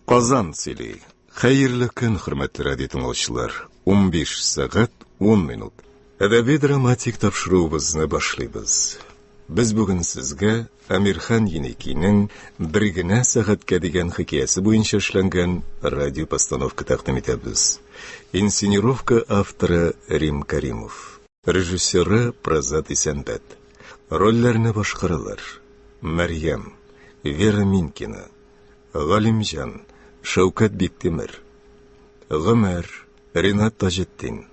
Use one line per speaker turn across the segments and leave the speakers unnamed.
Казан сөйли. Хәерле көн, хөрмәтле радио тыңлаучылар. 15 сәгать 10 минут. Әдәби драматик тапшыруыбызны башлыйбыз. Без бүген сезгә Амирхан Еникинең бер генә сәгатькә дигән хикәясе буенча эшләнгән радио постановка тәкъдим итәбез. Инсценировка авторы Рим Каримов. Режиссеры Прозат Исәнбәт. Рольләрне башкаралар. Мәрьям, Вера Минкина, Галимҗан, Шәүкәт Биктимер, Гомәр, Ринат Таҗетдин,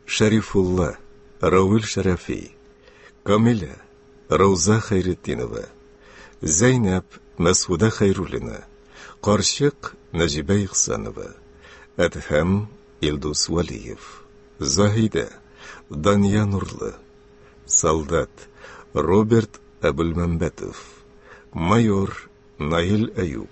Шәрифулла, Равил Шәрәфи, Камилә, Рауза Хәйретдинова, Зәйнәп, Мәсуда Хәйруллина, Карчык, Нәҗибә Ихсанова, Әдһәм, Илдус Валиев, Заһидә, Дания Нурлы, Солдат, Роберт Әбүлмәмбәтов, Майор, Наил Әюп.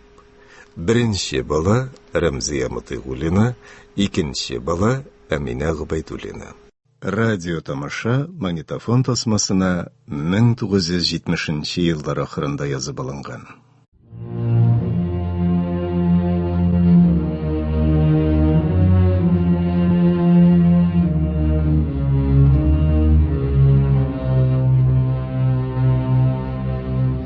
Беренче бала, Рәмзия Мотыйгуллина, икенче бала, Әминә Гобәйдуллина. Радиотамаша магнитофон тасмасына 1970 еллар ахырында язып алынган.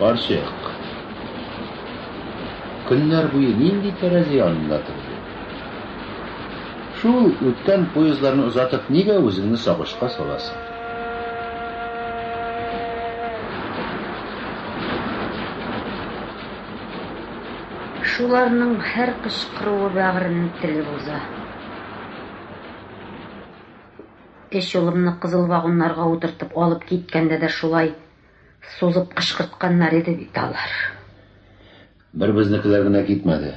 Карчык. Көннәр буе нинди тәрәзә янында торды? Шул үткән поездларны озатып, нигә үзеңне сагышка саласың?
Шуларның һәр кычкыруы бәгырьне телеп уза. Өч улымны кызыл вагоннарга утыртып алып киткәндә дә шулай сузып кычкыртканнар иде бит алар.
Бер безнекеләр генә китмәде.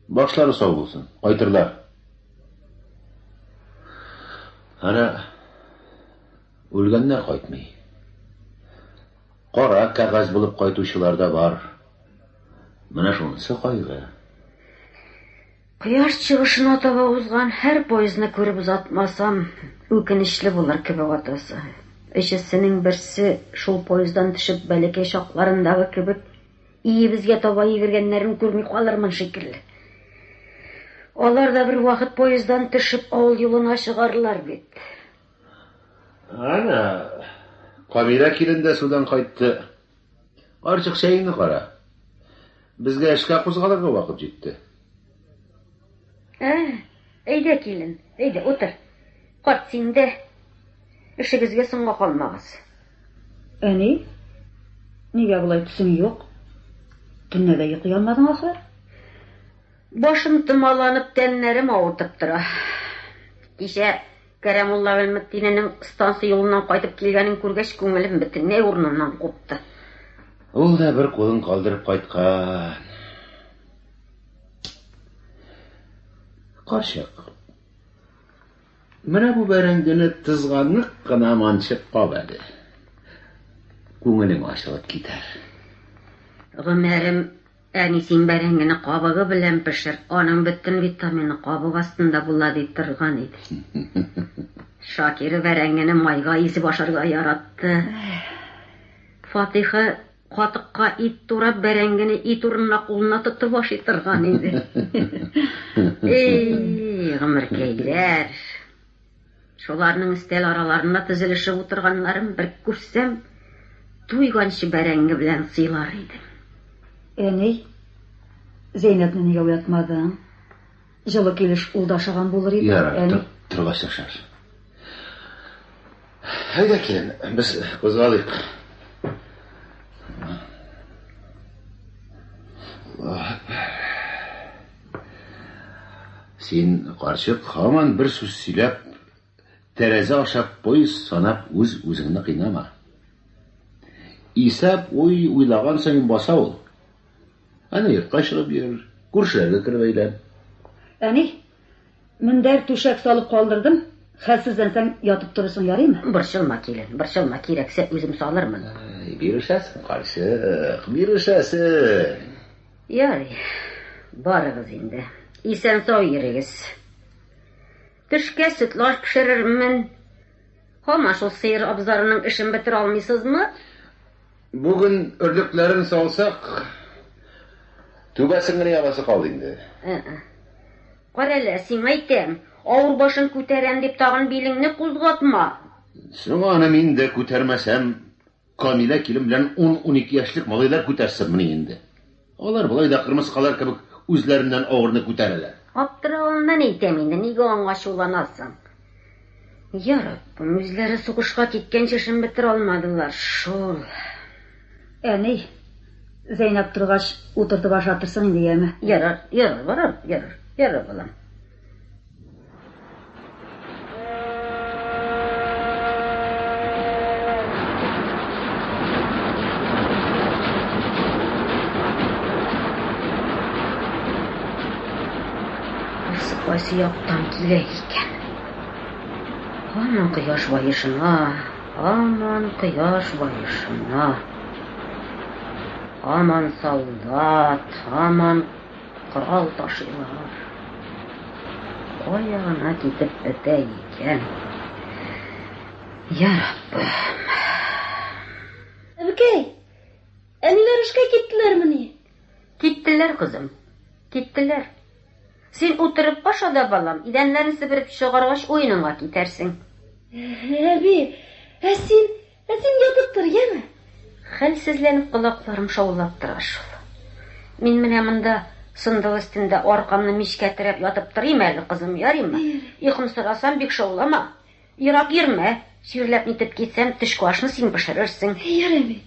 Башлары сау булсын, кайтырлар. Ана үлгәннәр кайтмый. Кара кәгазь булып кайтучылар да бар. Менә шунысы кайгы. Кояш
чыгышына таба узган һәр поездны күреп озатмасам, үкенечле булыр кебек атасы. Өчесенең берсе шул поезддан төшеп бәләкәй чакларындагы кебек Өебезгә таба йөгергәннәрен күрми калырмын шикелле. Алар да бер вакыт поездан төшеп авыл юлына чыгарлар бит. Әнә,
Камилә килен дә судан кайтты. Карчык, чәеңне кара. Безгә эшкә кузгалырга вакыт җитте. Ә,
әйдә, килен, әйдә, утыр. Карт, син дә эшегезгә соңга калмагыз.
Әни, нигә болай төсең юк? Төнлә дә йоклый алмадың, ахры?
Башым томаланып, тәннәрем авыртып тора. Кичә Кәрәмулла Гыйльметдиненең станция юлыннан кайтып килгәнен күргәч, күңелем бөтенләй урыныннан купты. Ул
да бер кулын калдырып кайткан. Карчык. Менә бу бәрәңгене тызганлык кына манчып кал әле. Күңелең ачылып китәр.
Гомәрем, әни, син бәрәңгене кабыгы белән пешер, аның бөтен витамины кабык астында була, ди торган иде. Шакира бәрәңгене майга изеп ашарга яратты. Фатыйха Катыкка ит турап, бәрәңгене ит урынына кулына тотып ашый торган иде. Эй, гомеркәйләр! Шуларның өстәл араларында тезелешеп утырганнарын бер күрсәм, туйганчы бәрәңге белән сыйлар идем. Әни,
Зәйнәпне нигә уятмадың? Җылы килеш ул да ашаган булыр иде, Ярар, әни. тор, торгач та
ашарбыз. Әйдә, килен, без кузгалыйк. Аллаһ әкбәр. Син, карчык, һаман бер сүз сөйләп, Тәрәзә аша поезд санап үз-үзеңне кыйнама. Исәп уй уйлаган саен баса ул. Әнә йортка чыгып йөр, күршеләргә кереп әйлән. Әни,
мендәр, түшәк салып калдырдым, хәлсезләнсәң ятып торырсың, ярыймы? Борчылма, килен,
борчылма, кирәксә үзем салырмын. Әй, бирешәсең,
карчык, бирешәсең. Ярый,
барыгыз инде. Исән-сау йөрегез. Төшкә сөтлаш пешерермен. Һаман шул сыер абзарының эшен бетерә алмыйсызмы?
Бүген өрлекләрен салсак, түбәсен генә ябасы калды инде. Ә-ә.
Карале, сиңа әйтәм, авыр башың күтәрәм дип тагын билеңне кузгатма. Соң аны
мин дә күтәрмәсәм, Камилә килен белән ун-унике яшьлек малайлар күтәрсенмени инде. Алар болай да кырмыскалар кебек үзләреннән авырны күтәрәләр. Аптыравымнан
әйтәм инде, нигә аңа ачуланасың? Яраттым, үзләре сугышка киткәнче эшен бетерә алмадылар шул.
Әни, Зәйнәп торгач, утыртып ашатырсың инде, яме? Ярар, ярар, барам,
ярар, ярар, балам. кайсы яктан килә икән? Һаман кояш баешына, һаман кояш баешына. Һаман солдат, һаман Корал ташыйлар. Кая гына китеп бетә икән. Яраббым.
Әбекәй! Әниләр эшкә киттеләрмени? Киттеләр,
кызым. Киттеләр. Син утырып аша да, балам, идәннәрен себереп чыгаргач, уеныңа китәрсең.
Әби, ә син Ә син ятып тор, яме! Хәлсезләнеп
колакларым шаулап тора шул. Мин менә монда сындыл өстендә аркамны мичкә терәп ятып торыйм әле, кызым, ярыймы? Йокым сорасам, бик шаулама. Ерак йөрмә, чирләп-нитеп китсәм, төшке ашны син пешерерсең. Ярый бит.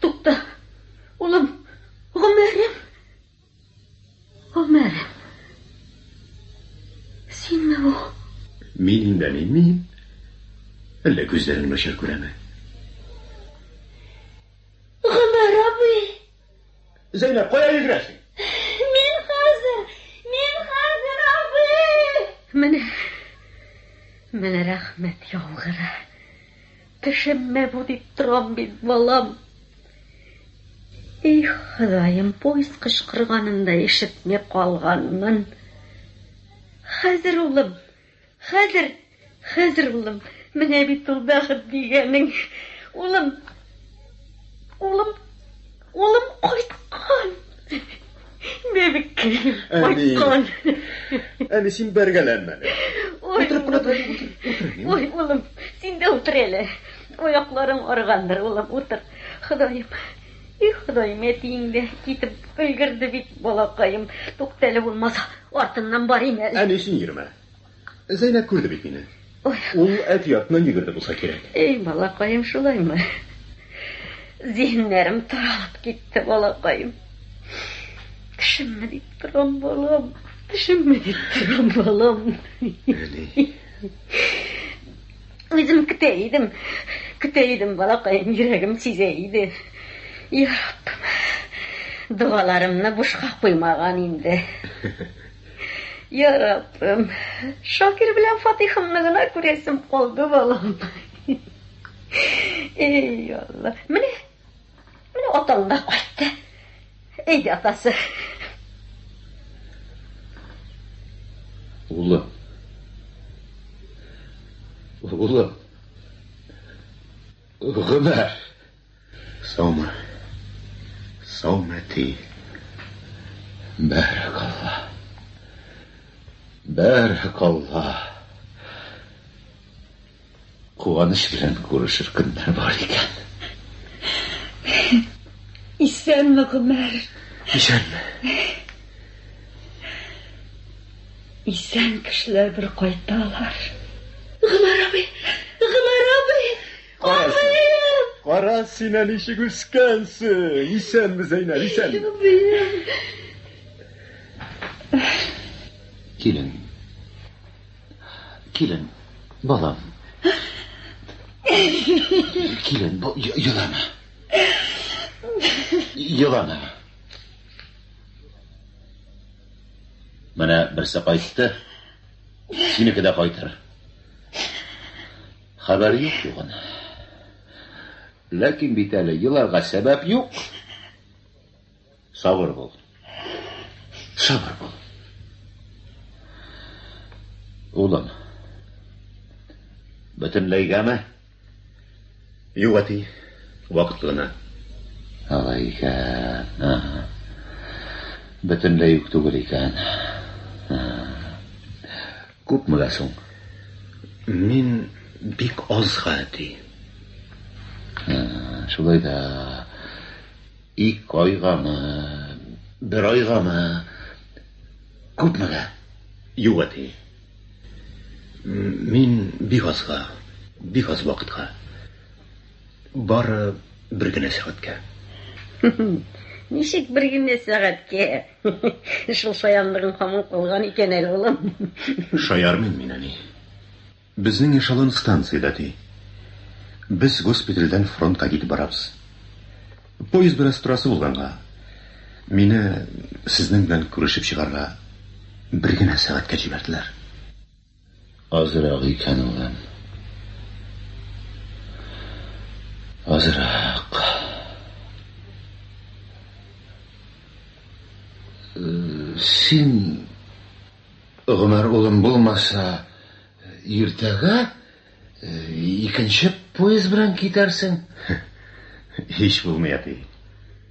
Тукта, улым, гомерем, гомерем. Синме бу? Мин инде
әни, мин. Әллә күзләрең начар күрәме?
Гомер абый.
Зәйнәп, кая йөгерәсең? Мин
хәзер, мин хәзер абый. Менә.
Менә рәхмәт яугыры. Кешеме бу дип торам бит, балам. Их, Ходаем, поезд кычкырганын да ишетми калганмын. Хәзер, улым, хәзер, хәзер, улым, менә бит ул бәхет дигәнең. Улым, улым. Улым кайткан! Бәбекәем, кайткан!
Әни, син бәргәләнмә. Ой, ой,
улым, син дә утыр әле. Аякларың аргандыр, улым, утыр. Ходаем, и Ходаем, әтиең дә китеп өлгерде бит, балакаем. Туктәле булмаса, артыннан барыйм әле. Әни, син йөрмә.
Зәйнәп күрде бит мине. Ул әкиятны йөгерде булса кирәк. Эй, балакаем,
шулаймы? Зиһеннәрем таралып китте, балакаем. Тешемме дип торам, балам. Тешемме дип торам, балам. Үзем көтә идем. Көтә идем, балакаем, йөрәгем сизә иде. Яраббым, догаларымны бушка куймаган инде. Яраббым, Шакир белән Фатихымны гына күрәсем калды, балам. Эй, Алла. Менә, менә атаң да кайтты. Әйдә, атасы.
Улы. Улы. Гомәр. Саумы. Саумәти. Бәрәк Алла. Бәрәк Алла. Куаныш белән күрешер көннәр бар икән.
Исәнме, Гомәр? Исәнме. Исән кешеләр бер кайталар.
Гомәр абый!
Кара син әле ничек үскәнсең. Исәнме, Зәйнәб, исәнме?
Килен. Килен, балам. Килен, елама. Елама. Менә берсе кайтты. Синеке дә кайтыр. Хәбәр юк югын. Ләкин бит әле еларга сәбәп юк. Сабыр бул. Сабыр бул. Улым. Бөтенләйгәме?
Юк, әти. Вакытлы гына.
Алай икән. Бөтенләй үк түгел икән. Күпме дә соң?
Мин бик азга, ди.
Шулай да ике айгамы, бер айгамы, күпмегә?
Юк, әти. Мин бик азга, бик аз вакытка. Бары бер генә сәгатькә. Ничек
бер генә сәгатькә? Шул шаянлыгың һаман калган икән әле, улым. Шаярмыйм
мин, әни. Безнең эшелон станциядә, ди. Без госпитальдән фронтка китеп барабыз. Поезд бераз торасы булганга, мине сезнең белән күрешеп чыгарга бер генә сәгатькә җибәрделәр.
Азрак икән ул ан. Азрак. Син, Гомәр улым, булмаса, иртәгә. Икенче поезд белән китәрсең.
Һич булмый, әти.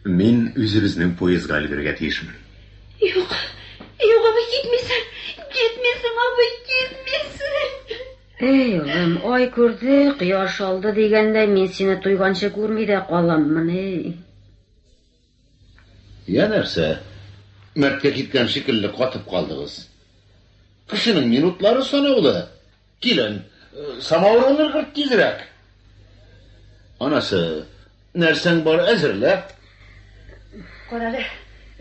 Мин үзебезнең поездга өлгерергә тиешмен. Юк,
юк, абый, китмисең. Китмисең, абый, китмисең. Эй,
улым, ай күрде, кояш алды дигәндәй, мин сине туйганчы күрми дә каламмыни.
Я нәрсә, мәрткә киткән шикелле катып калдыгыз? Кешенең минутлары санаулы. Килен, самавыр өлгерт тизрәк. Анасы, нәрсәң бар, әзерлә.
Карале,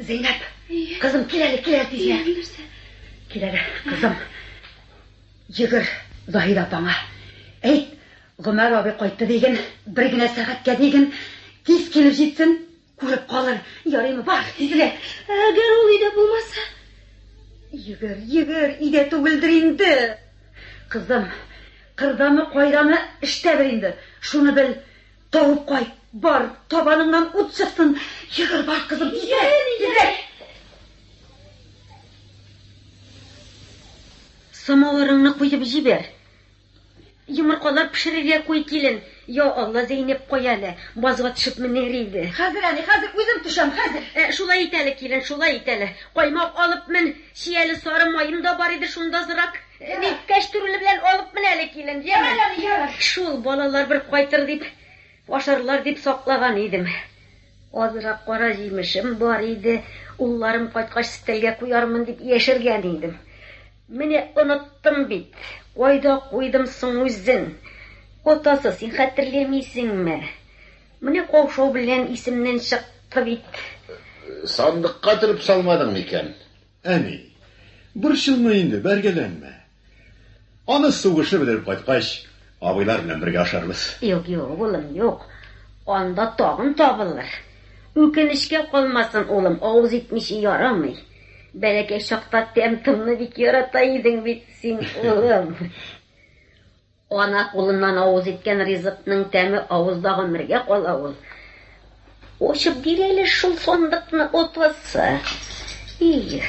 Зәйнәп, кызым, кил әле, кил әле тизрәк. Кил әле, кызым. Йөгер Заһир апаңа. Әйт, Гомәр абый кайтты диген, бер генә сәгатькә диген, тиз килеп җитсен, күреп калыр. Ярыймы, бар, тизрәк. Әгәр ул өйдә
булмаса? Йөгер,
йөгер, өйдә түгелдер инде. Кызым, кырдамы, кайдамы, эштә бер инде. Шуны бел, тавып кайт. Бар, табаныңнан ут чыксын. Йөгер, бар, кызым, тизрәк, тизрәк.
Самавырыңны куеп җибәр. Йомыркалар пешерергә куй, килен. Йа Алла, Зәйнәп кая әле? Базга төшеп менәр иде. Хәзер әни, хәзер
үзем төшәм, хәзер. Ә, шулай ит әле, килен,
шулай ит әле. Каймак алып мен, чи әле сары маем да бар иде шундазрак. Ни, кәчтүрле белән алып мен әле, килен, яме. Ярар, әни, ярар. Шул, балалар бер кайтыр дип, ашарлар дип саклаган идем. Азрак кара җимешем бар иде, улларым кайткач стәлгә куярмын дип яшергән идем. Менә оныттым бит. Кайда куйдым соң үзен? Атасы, син хәтерләмисеңме? Менә каушау белән исемнән чыкты бит. Сандыкка
төреп
салмадың
микән?
Әни,
борчылма инде, бәргәләнмә. Аны сугышы бетереп кайткач, абыйлар белән бергә ашарбыз. Юк, юк, улым,
юк. Анда тагын табылыр. Үкенечкә калмасын, улым, авыз итмичә ярамый. Бәләкәй чакта тәм-томны бик ярата идең бит син, улым. Ана кулыннан авыз иткән ризыкның тәме авызда гомергә кала ул. Ачып бир әле шул сандыкны апасы. Их,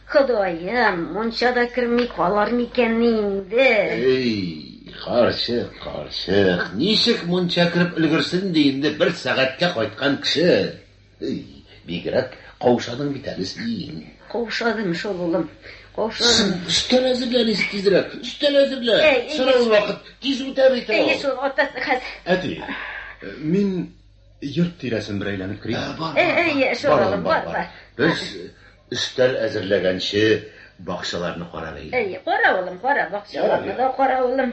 Ходаем, монча да керми калар микәнни инде? Эй, карчык,
карчык, ничек монча кереп өлгерсен ди инде бер сәгатькә кайткан кеше? Ый, бигрәк каушадың бит әле син. Каушадым шул,
улым. Каушадым. Өстәл әзерлә,
Лиз, тизрәк. Өстәл әзерлә. Сорау вакыт тиз үтә бит ул. Әйе шул, атасы
хәзер. Әти,
мин йорт тирәсен бер әйләнеп керим. Әйе, шул, улым,
бар, бар. Без
өстәл әзерләгәнче бакчаларны карап әйе. Әйе, кара, улым, кара,
бакчаларны да кара, улым.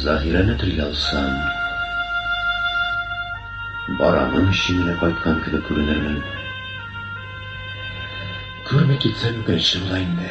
Заһирәне телгә алсам, барамын өчен генә кайткан кебек күренермен. Күрми китсәм үкенечле була инде.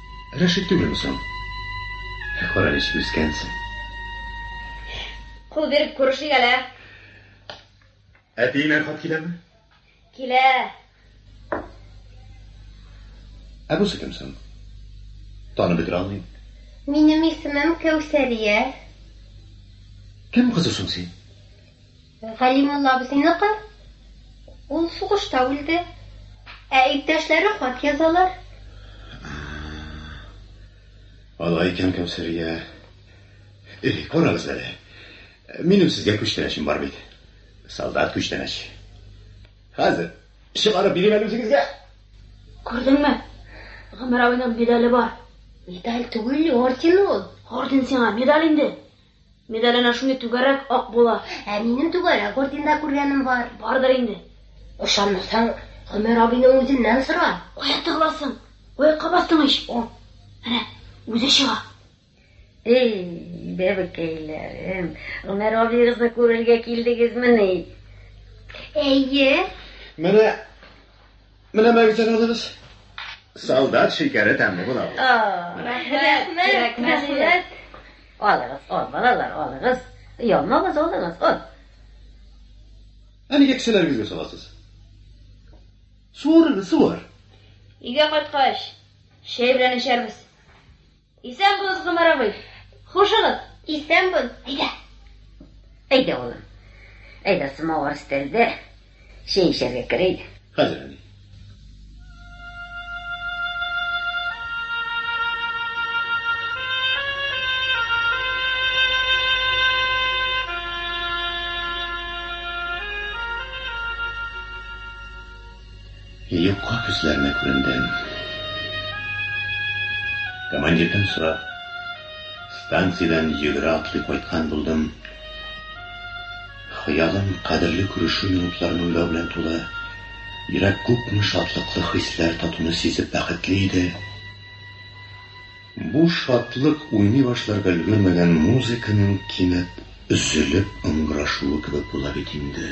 Рәшит түгелме соң? Ә кара ничек үскәнсең.
Кул биреп күрешик әле. Әтиеңнән
хат киләме? Килә. Ә бусы кем соң? Танып бетерә алмыйм. Минем исемем
Кәүсәрия.
Кем кызы соң син?
Галимулла абзыйныкы, ул сугышта үлде. Ә иптәшләре хат язалар.
Алай икән, Кәүсәрия. Элек карагыз әле. Минем сезгә күчтәнәчем бар бит. Солдат күчтәнәч. Хәзер чыгарып бирим әле үзегезгә. Күрдеңме?
Гомәр абыйның медале бар. Медаль түгел, орден ул. Орден сиңа, медаль инде. Медаль әнә шундый түгәрәк ак була. Ә минем түгәрәк орденда күргәнем бар. Бардыр инде. Ышанмасаң, Гомәр абыйның үзеннән сора. Кая тыгыласың? Аякка бастың ич. О, әнә, үзе чыга. Эй,
бәбекәйләрем, Гомәр абыегызны күрергә килдегезмени?
Әйе. Менә.
Менә мәгәзин алыгыз. Солдат шикәре тәмле була бу. Рәхмәт, рәхмәт.
Алыгыз,
ал, балалар, алыгыз. Ялмагыз, алыгыз, ал.
Ә нигә кешеләрегезгә саласыз? Суырыгыз, суыр. Өйгә
кайткач, чәй белән эчәрбез. Исән булыгыз, Гомәр абый. Хушыгыз. Исән бул. Әйдә.
Әйдә, улым. Әйдә, самавар өстәлдә. Чәй эчәргә кер, әйдә. Хәзер, әни.
Юкка күзләренә күрендем. Командирдан сорап, станциядән йөгерә-атлый кайткан булдым. Хыялым кадерле күрешү минутларын уйлау белән тулы, йөрәк күпме шатлыклы хисләр татуны сизеп бәхетле иде. Бу шатлык уйный башларга өлгермәгән музыканың кинәт өзелеп ыңгырашуы кебек була бит инде.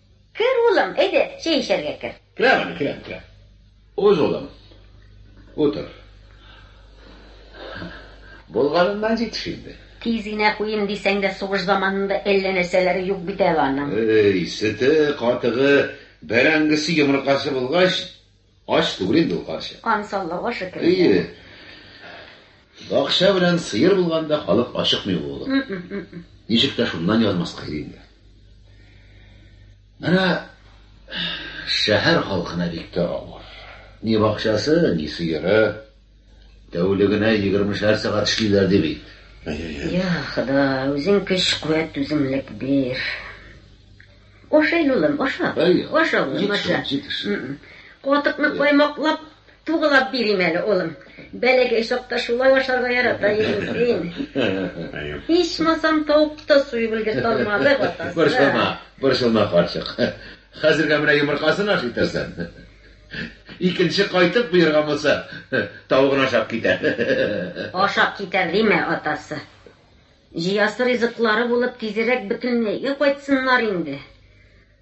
Кер, улым, әйдә, чәй эчәргә кер. Керәм әле, керәм, керәм.
Уз, улым, утыр. Булганыннан җитеш инде. Тиз генә куйыйм
дисәң дә, сугыш заманында әллә нәрсәләре юк бит әле аның. Эй, сөте,
катыгы, бәрәңгесе, йомыркасы булгач. Ач түгел инде ул карчык. Кан саллауга шөкер.
Әйе.
Бакча белән сыер булганда халык ашыкмый булды. Ничек тә шуннан язмаска иде инде. Менә шәһәр халкына бик тә авыр. Ни бакчасы, ни сыеры. Тәүлегенә 20-шәр сәгать эшлиләр ди бит. Әйе. Я,
Ходай, үзең көч-куәт, үзеңлек бир. Ашыйн, улым, аша. Аша, улым, аша. Катыкны каймаклап, тугылап бирим әле, улым. Бәләкәй чакта шулай ашарга ярата идең син. Ичмасам, тавыкты да суеп өлгертә алмадык, атасы. Борчылма, борчылма, карчык.
Хәзергә менә йомыркасын ашый торсын. Икенче кайтып боерган булса, тавыгын ашап китәр. Ашап китәр
диме, атасы. Җыясы ризыклары булып тизрәк бөтенләйгә кайтсыннар инде.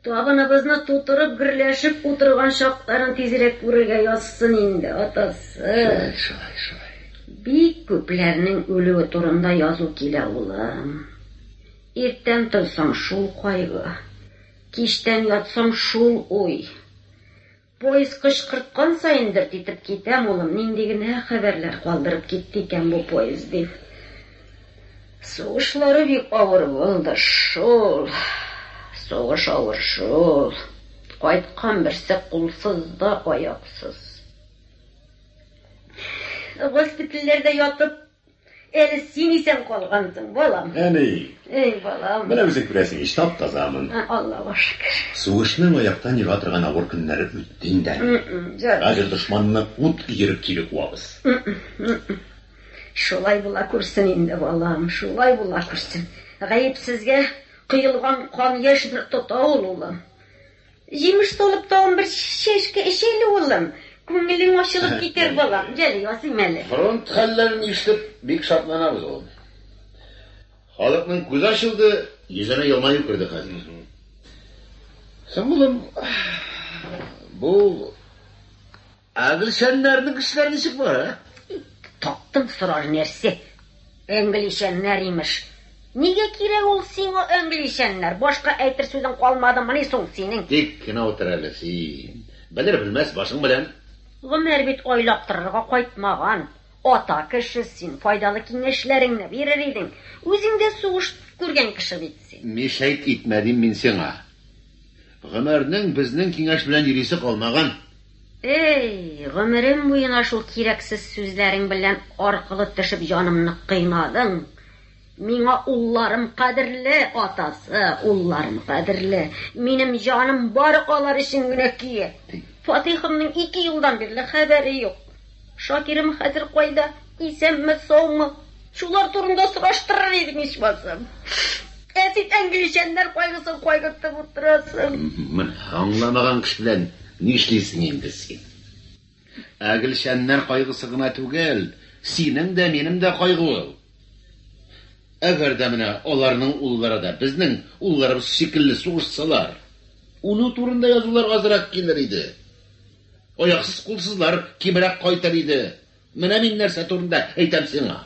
Табыныбызны тутырып гөрләшеп утырган чакларын тизрәк күрергә язсын инде, атасы. Шулай, шулай, шулай.
Бик
күпләрнең үлүе турында язу килә, улым. Иртән торсаң, шул кайгы. Кичтән ятсаң, шул уй. Поезд кычкырткан саен дерт итеп китәм, улым, нинди генә хәбәрләр калдырып китте икән бу поезд дип. Сугышлары бик авыр булды шул. Сугыш авыр шул. Кайткан берсе кулсыз да, аяксыз. Госпитальләрдә ятып. Әле син исән калгансың, балам. Әни. Эй,
балам.
Менә үзең күрәсең ич,
тап-тазамын. Аллага шөкер.
Сугышның аяктан
ега торган авыр көннәре үтте инде әле. Хәзер дошманны ут өереп кире куабыз.
Шулай була күрсен инде, балам, шулай була күрсен. Гаепсезгә коелган кан яшь бер тота ул, улым. Җимеш солып тагын бер чәшке эч әле, улым. Күңелең ачылып китәр, балам. Гел ясыйм әле. Фронт хәлләрен
ишетеп, бик шатланабыз, улым. Халыкның күзе ачылды, йөзенә елмаю керде хәзер. Соң, улым, бу. Ә Гөлшәннәрнең эшләре ничек бара? Таптың
сорар нәрсә. Әңгелишәннәр имеш. Нигә кирәк ул сиңа әңгелишәннәр? Башка әйтер сүзең калмадымыни соң синең? Тик кенә утыр әле
син. Белер-белмәс башың белән. Гомәр бит
айлап торырга кайтмаган. Ата кеше син, файдалы киңәшләреңне бирер идең. Үзең дә сугыш күргән кеше бит син. Мишәйт итмә дим
мин сиңа. Гомәрнең безнең киңәш белән йөрисе калмаган. Эй,
гомерем буена шул кирәксез сүзләрең белән аркылы төшеп җанымны кыйнадың. Миңа улларым кадерле, атасы, улларым кадерле. Минем җаным бары алар өчен генә көя. Фатыйхымның ике елдан бирле хәбәре юк. Шакирым хәзер кайда? Исәнме, саумы? Шулар турында сораштырыр идең, ичмасам. Ә син әңгеличәннәр кайгысын кайгыртып утырасың.
Аңламаган кеше белән нишлисең инде син? Әгелчәннәр кайгысы гына түгел, синең дә, минем дә кайгы ул. Әгәр дә менә аларның уллары да безнең улларыбыз шикелле сугышсалар, үлү турында язулар азрак килер иде. Аяксыз-кулсызлар кимрәк кайтыр иде. Менә мин нәрсә турында әйтәм сиңа.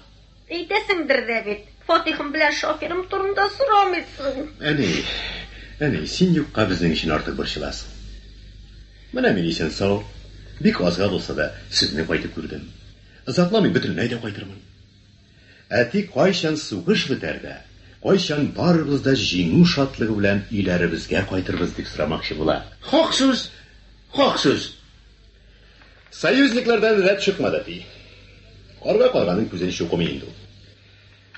Әйтәсеңдер
дә бит. Фатихым белән шоферым турында сорамыйсың. Әни,
әни, син юкка безнең өчен артык борчыласың. Менә мин исән-сау, бик азга булса да, сезне кайтып күрдем. Озакламый бөтенләй дә кайтырмын. Әти кайчан сугыш бетәр дә, кайчан барыбыз да җиңү шатлыгы белән өйләребезгә кайтырбыз, дип сорамакчы була. Хак сүз!
Хак сүз!
Союзниклардан рәт чыкмады, ди. Карга карганың күзен чукымый инде ул.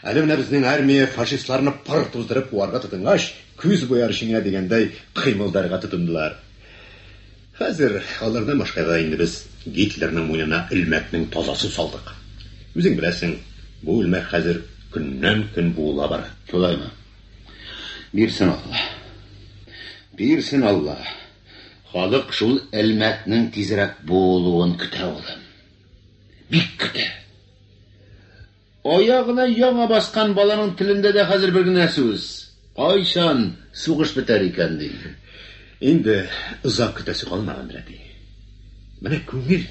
Әле менә безнең армия фашистларны пыр туздырып куарга тотынгач, күз буяр җиңә дигәндәй кыймылдарга тотындылар. Хәзер алардан башка да инде без Гитлерның муенына элмәкнең тазасын салдык. Үзең беләсең, бу элмәк хәзер көннән-көн буыла бара. Шулаймы?
Бирсен Алла. Бирсен Алла. Халык шул элмәкнең тизрәк буылуын көтә, улым. Бик көтә. Аягына яңа баскан баланың телендә дә хәзер бер генә сүз, Кайчан сугыш бетәр икән? ди. Инде
озак көтәсе калмагандыр, әти. Менә күңел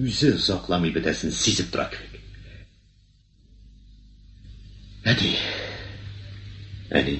үзе озакламый бетәсен сизеп тора кебек. Әти. Әни.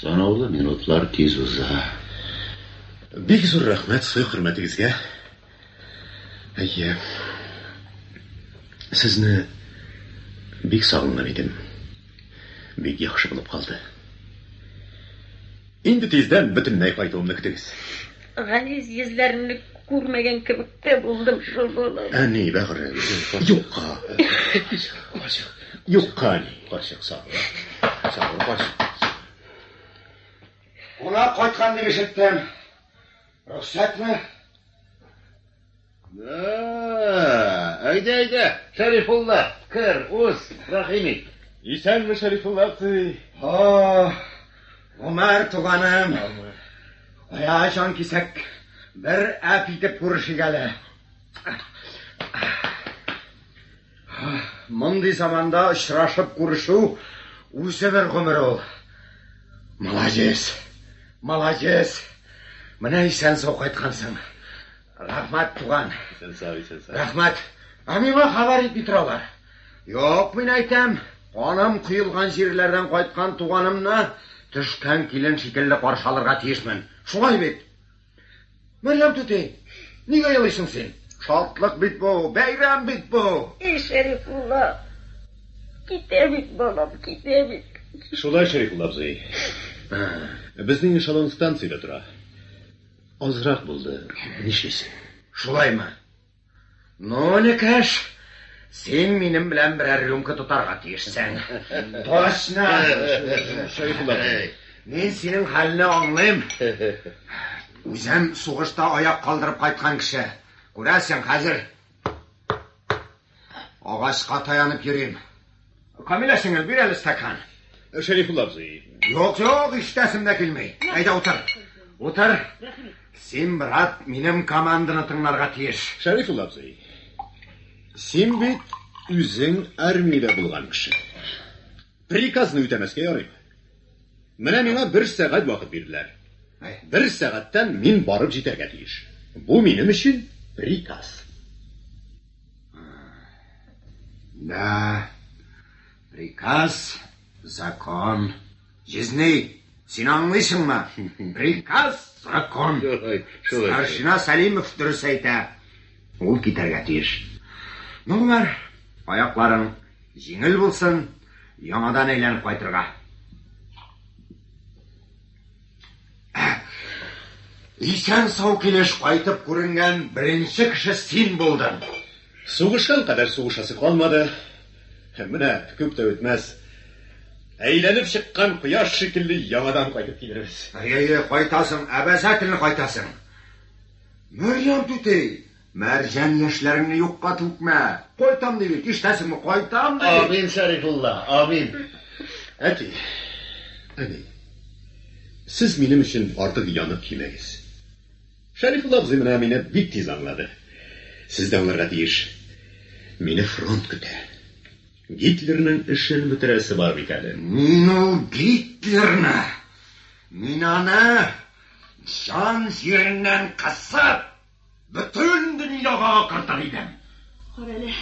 Санаулы минутлар тиз уза.
Бик зур рәхмәт сый хөрмәтегезгә. Әйе. Сезне бик сагынган идем. Бик яхшы булып калды. Инде тиздән бөтенләй кайтуымны көтегез. Газиз
йөзләреңне күрмәгән кебек тә булдым шул юлы. Әни, бәгырем,
юкка. Юкка, әни. Карчык, сабыр.
Сабыр, карчык.
Кунак кайткан дип ишеттем. Рөхсәтме? Ә-ә-ә!
Әйдә, әйдә, Шәрифулла, кер, уз, рәхим ит. Исәнме,
Шәрифулла абзый. Һо-о,
Гомәр туганым. Кая җан кисәк, бер әп итеп күрешик әле. Мондый заманда очрашып күрешү үзе бер гомер ул. Молодец. Молодец. Менә исән сау кайткансың. Рәхмәт, туган. Исән сау, исән сау.
Рәхмәт. Ә
миңа хәбәр итми торалар. Юк, мин әйтәм, каным кыелган җирләрдән кайткан туганымны төшкән килен шикелле каршы алырга тиешмен. Шулай бит? Мәрьям түти, нигә елыйсың син? Шатлык бит бу, бәйрәм бит бу! И Шәрифулла,
китә бит балам, китә бит. Шулай, Шәрифулла
абзый. Безнең эшелон станциядә тора. Азрак булды, нишлисең. Шулаймы?
Ну, Никәш, син минем белән берәр рюмка тотарга тиешсең. Точно!
Шәйхулла. Мин синең
хәлне аңлыйм. Үзем сугышта аяк калдырып кайткан кеше. Күрәсең, хәзер агачка таянып йөрим. Камилә сеңел, бир әле стакан. Шәрифулла абзый.
Юк, юк,
иштәсем дә килми. Әйдә утыр. Утыр. Син, брат, минем команданы тыңларга тиеш. Шәрифулла абзый.
Син бит үзең армиядә булган кеше. Приказны үтәмәскә ярый. Менә миңа бер сәгать вакыт бирделәр. Бер сәгатьтән мин барып җитәргә тиеш. Бу минем өчен приказ.
Да, приказ, закон. Җизней, син аңлыйсыңмы? Приказ, закон. Старшина Салимов дөрес әйтә. Ул китәргә тиеш. Ну, бар, аякларың җиңел булсын, яңадан әйләнеп кайтырга. Исән-сау килеш кайтып күренгән беренче кеше син булдың. Сугышкан
кадәр сугышасы калмады. Менә күп тә үтмәс. Әйләнеп чыккан кояш шикелле яңадан кайтып килербез. Әйе, кайтасың,
обязательно кайтасың. Мәрьям түти! Мәрҗән, яшьләреңне юкка түкмә! Кайтам ди бит, ишетәсеңме, кайтам ди! Амин, Шәрифулла,
амин! Әти,
әни, сез минем өчен артык янып кимәгез. Шәрифулла абзый менә мине бик тиз аңлады. Сез дә аңларга тиеш. Мине фронт көтә. Гитлерның эшен бетерәсе бар бит әле. Мин ул
Гитлерны, мин аны җан җиреннән кысып, Бөтен дөньяга акыртыр идем. Карале,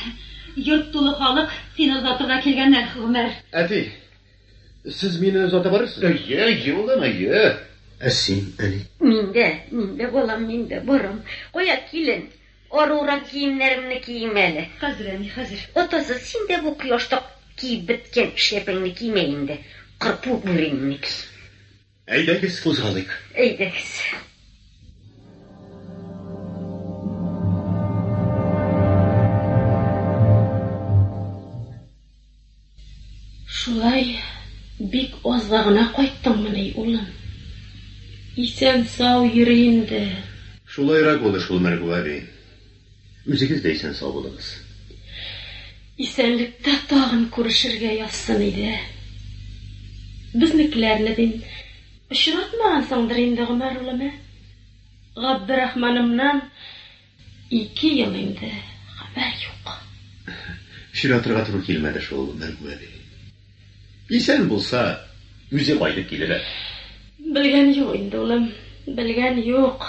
йорт тулы халык сине озатырга килгәннәр, Гомәр. Әти,
сез мине озата барырсыз? Әйе, әйе, улым, әйе.
Ә син,
әни? Мин дә, мин дә,
балам, мин дә барам. Кая, килен, арурак киемнәремне киим әле. Хәзер, әни, хәзер.
Атасы, син дә
бу кояшта киеп беткән шляпәңне кимә инде, кырпу бүреңне ки. Әйдәгез,
кузгалыйк. Әйдәгез.
Шулай бик азга гына кайттыңмыни, улым? Исән-сау йөр инде. Шулайрак
булды шул, Мәргү әби. Үзегез дә исән сау булыгыз. Исәнлектә
тагын күрешергә язсын иде. Безнекеләрне, дим, очратмагансыңдыр инде, Гомәр улым, ә? Габдерахманымнан ике ел инде хәбәр юк.
Очратырга туры килмәде шул, Мәргү әби. Исән булса, үзе кайтып килер әле. Белгән
юк инде, улым, белгән юк.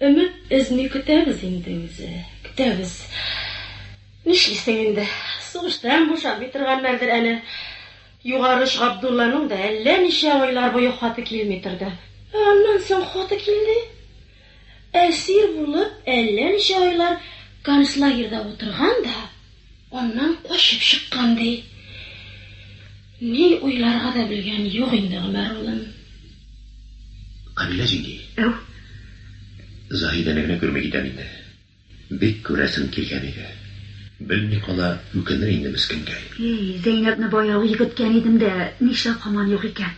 Өмет өзми көтәбез инде үзе, көтәбез. Нишлисең инде, сугыштан бушамый торганнардыр әле. Югарыш Габдулланың да әллә ничә айлар буе хаты килми торды. Ә аннан соң хаты килде. Әсир булып әллә ничә айлар концлагерьда утырган да, аннан качып чыккан, ди. Ни уйларга да белгән юк инде Гомәр улын. Камилә
җиңги. Әү. Заһидәне генә күрми китәм инде. Бик күрәсем килгән иде. Белми кала, үкенер инде мескенгәй. Ий, Зәйнәбне
баяу игеткән идем дә, нишләп һаман юк икән?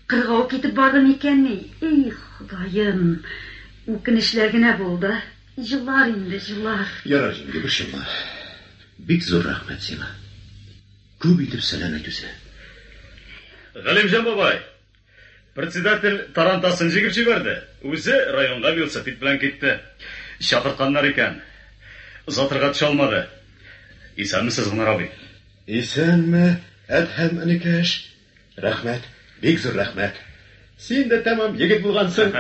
Кыргау китеп барды микәнни? Ий, Ходаем! Үкенечләр генә бул да, җылар инде, җылар. Ярар, җиңги, борчылма.
Бик зур рәхмәт сиңа. Күп итеп сәлам әйт үзенә.
Галимҗан бабай! Председатель тарантасын җигеп җибәрде, үзе районга велосипед белән китте. Чакыртканнар икән. Озатырга төшә алмады. Исәнмесез, Гомәр абый. Исәнме,
Әдһәм энекәш. Рәхмәт, бик зур рәхмәт. Син дә тәмам егет булгансың.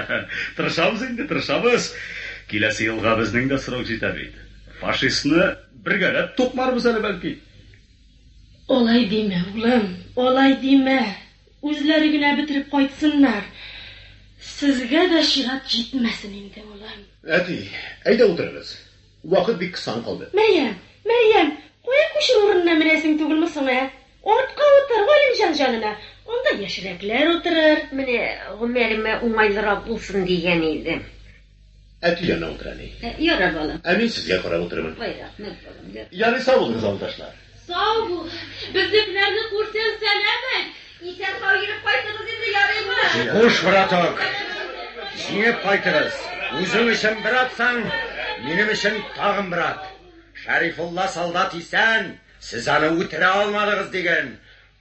Тырышабыз
инде, тырышабыз. Киләсе елга безнең дә срок җитә бит. Фашистны бергәләп тукмарбыз әле, бәлки.
Алай димә, улым, алай димә. Үзләре генә бетереп кайтсыннар. Сезгә дә чират җитмәсен инде, улым. Әти,
әйдә утырыгыз. Вакыт бик кысан калды. Мәрьям, Мәрьям,
кая күчер урынына менәсең түгелме соң, ә? Артка утыр, Галимҗан җанына. Анда яшьрәкләр утырыр. Менә Гомәремә
уңайлырак булсын дигән идем. Әти
янына утыр әле. Ярар, балам. Ә мин
сезгә карап утырырмын.
Ай, рәхмәт, балам,
ярар. Ярый, сау булыгыз,
авылдашлар. Сау бул.
Безнекеләрне күрсәң, сәлам әйт. Исән-сау йөреп
кайтыгыз инде, ярыймы? Хуш, браток.
Җиңеп кайтыгыз. Үзең өчен бер атсаң, минем өчен тагын бер ат. Шәрифулла солдат исән, сез аны үтерә алмадыгыз, диген.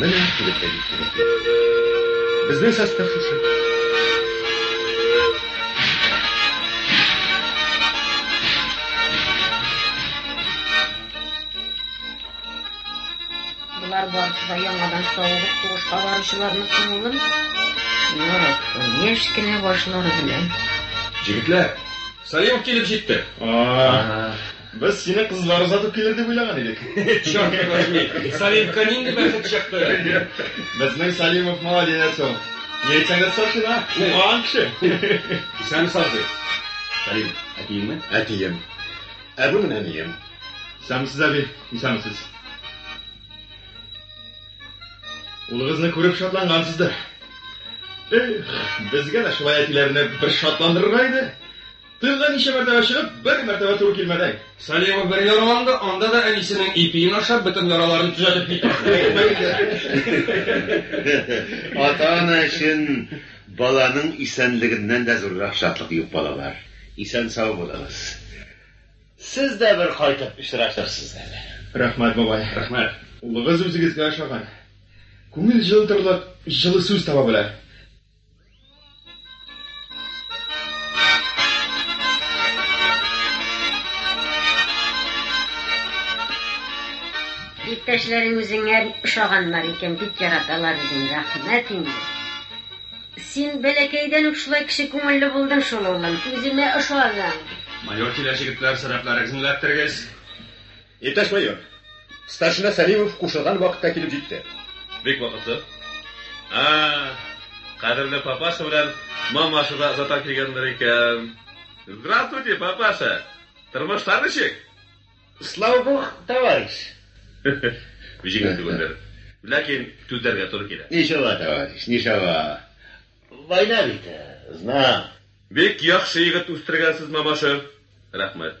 Менә килеп тә җиттеләр. Безнең состав шушы.
Болар барысы да яңадан савыгып сугышка баручыларның күңелен яраткан яшь кенә башлары белән. Җегетләр,
Салимов килеп җитте. А.
Без сине кызлар озатып килер дип уйлаган идек. Чёрт возьми,
Салимка нинди бәхет чыкты. Безнең
Салимов молодец ул. Ни әйтсәң дә старшина, укыган кеше. Исән
саздый. Салим,
әтиеңме? Әтием. Ә бу менә әнием. Исәнмесез, әби, исәнмесез. Улыгызны күреп шатлангансыздыр. Эх, безгә дә шулай әтиләрне бер шатландырырга иде. Тылга ничә мәртәбә чыгып, бер мәртәбә туры килмәдәй. Салиева бер
яраланды, анда да әнисенең ипиен ашап, бөтен яраларын төзәтеп китә. Ата-ана өчен
баланың исәнлегеннән дә зуррак шатлык юк, балалар. Исән-сау булыгыз. Сез дә бер кайтып очрашырсыз әле. Рәхмәт, бабай.
Рәхмәт. Улыгыз
үзегезгә
ошаган. Күңел җылытырлык җылы сүз таба белә.
Иптәшләрең үзеңә ошаганнар икән, бик яраталар үзеңне. Рәхмәт инде. Син бәләкәйдән үк шулай кеше күңелле булдың шул, улым. Үземә ошадың. Майор килә,
җегетләр, сәбәпләрегезне эләктерегез. Иптәш
майор, старшина Сәлимов кушылган вакытка килеп җитте. Бик вакытлы.
А, кадерле папаша белән мамаша да озата килгәннәр икән. Здравствуйте, папаша. Тормышлар ничек? Слава
бог, товарищ.
Җиңел түгелдер. Ләкин түзәргә туры килә. Ничава, товарищ,
ничава. Война бит, знам. Бик яхшы
егет үстергәнсез, мамаша. Рәхмәт.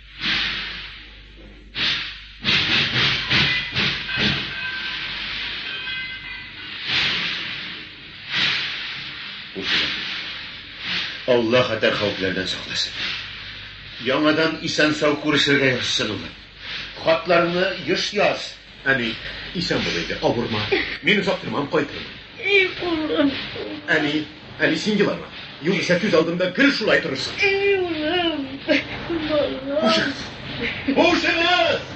Алла хәтәр хәүфләрдән сакласын. Яңадан исән-сау күрешергә язсын улым. Хатларны еш яз. Әни,
исән бул инде, авырма. Мин озак тормам, кайтырмын. И улым.
Әни,
әни, син елама. Югыйсә күз алдымда гел шулай торырсың. И улым, балам.
Хушыгыз.
Хушыгыз!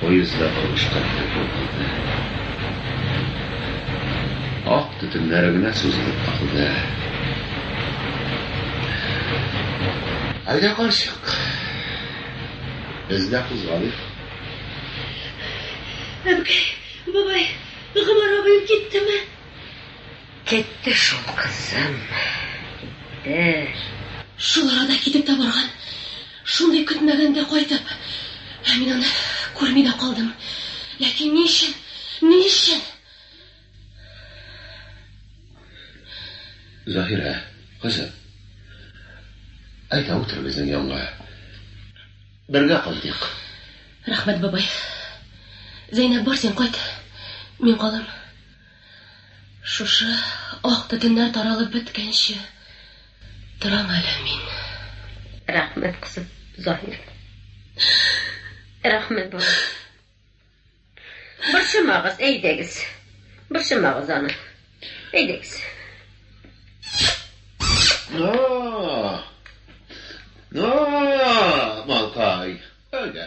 Поезд да тавышка бөтерелеп китә. Ак төтеннәре генә сузылып калды. Әйдә, карчык, без дә кузгалыйк.
Әбкәй, бабай, Гомәр абыем киттеме?
Китте шул, кызым. Китте.
Шул арада китеп тә барган. Шундый көтмәгәндә кайтып, мин аны күрми дә калдым. Ләкин ни өчен? Ни өчен?
Заһирә, кызым, әйдә утыр безнең янга. Бергә кайтыйк. Рәхмәт,
бабай. Зәйнәб, бар син кайт, мин калам. Шушы ак бетеннәр таралып беткәнче торам әле мин. Рәхмәт,
кызым, Заһир. Рәхмәт, балам. Борчымагыз, әйдәгез. Борчымагыз аны. Әйдәгез.
Малкай, әйдә.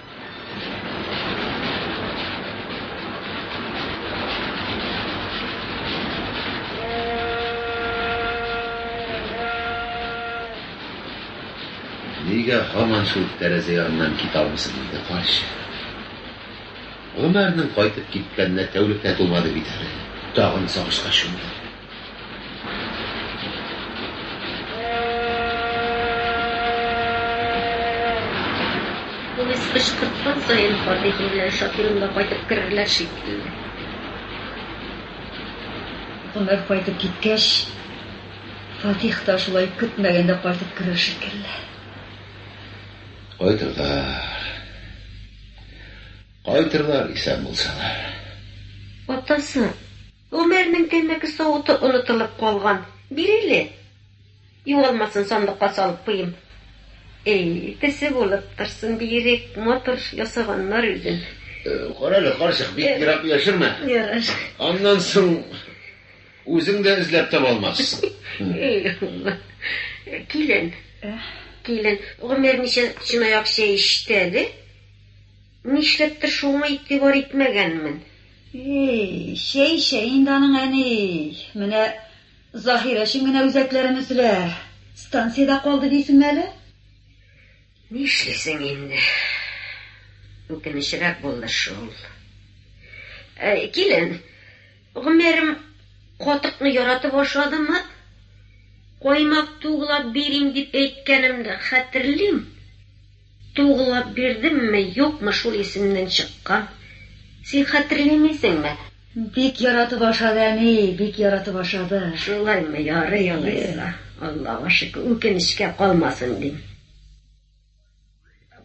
Нигә һаман шул тәрәзә яныннан китә алмыйсың инде, карчык? Гомәрнең кайтып киткәненә тәүлек тә тулмады бит әле, тагын
сагышка чумды.
Повесть кычкырткан саен Фатих белән Шакирым да кайтып керерләр шикелле.
Гомәр кайтып киткәч, Фатих та шулай көтмәгәндә кайтып керер шикелле. Кайтырлар.
Кайтырлар, исән булсалар.
Атасы. Гомәрнең тәмәке савыты онытылып калган. Биреле. Югалмасын, сандыкка салып куйыйм. Әй, төсе булып торсын, биерек, матур ясаганнар үзен. Карале,
карчык, бик ерак яшермә. Ярар.
Аннан соң
үзең дә эзләп таба алмассың. Әй Алла.
Килен. Килен. Гомәр ничә чынаяк чәй эчте әле? Нишләптер шуңа игътибар итмәгәнмен. Эй, чәй,
чәй инде аның, әни. Менә Заһир өчен генә үзәкләрен өзелә. Станциядә калды дисеңме әле? Нишлисең
инде. Үкенечрәк булды шул. Ә, килен, гомерем катыкны яратып ашадымы? Каймак туглап бирим дип әйткәнемне хәтерлим. Тугылап бирдемме, юкмы шул исемнән чыккан. Син хәтерлимисеңме? Бик
яратып ашады, әни, бик яратып ашады. Шулаймы, ярый
алайса. Аллага шөкер, үкенечкә калмасын, дим.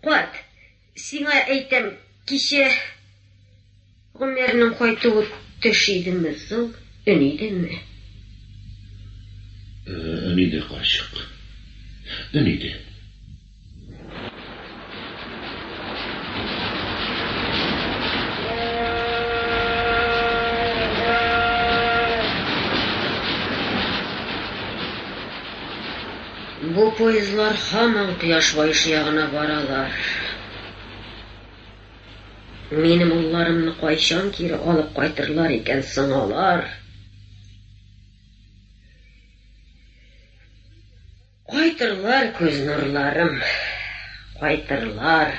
Карт, сиңа әйтәм, кичә. Гомернең кайтуы төш идеме, зыл өн идеме?
Өн иде, карчык. Өн иде.
Бу поездлар һаман кояш баешы ягына баралар. Минем улларымны кайчан кире алып кайтырлар икән соң алар? Кайтырлар, күз нурларым, кайтырлар.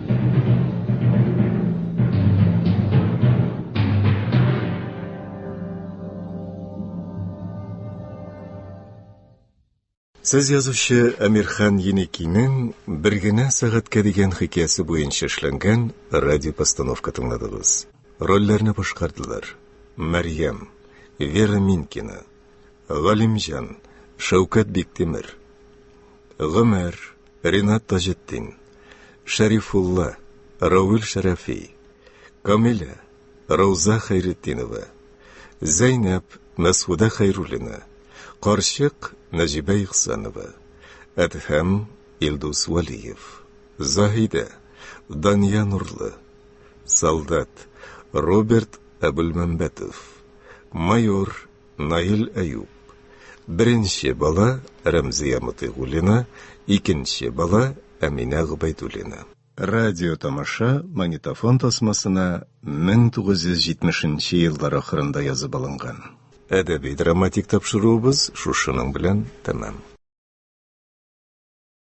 Сез язучы Әмирхан Еникинең бер генә сәгатькә дигән хикәясе буенча эшләнгән радиопостановка тыңладыгыз. Рольләрне башкардылар. Мәрьям, Вера Минкина, Галимҗан, Шәүкәт Биктимер, Гомәр, Ринат Таҗетдин, Шәрифулла, Равил Шәрәфи, Камилә, Рауза Хәйретдинова, Зәйнәп, Мәсхудә Хәйруллина, Карчык, Нәҗибә Ихсанова, Әдһәм, Илдус Валиев, Заһидә, Дания Нурлы, Солдат, Роберт Әбүлмәмбәтов, Майор, Наил Әюп. Беренче бала, Рәмзия Мотыйгуллина, икенче бала, Әминә Гобәйдуллина. Радиотамаша магнитофон тасмасына 1970 нче еллар ахырында язып алынган. Әдәби-драматик тапшыруыбыз шушының белән тәмам.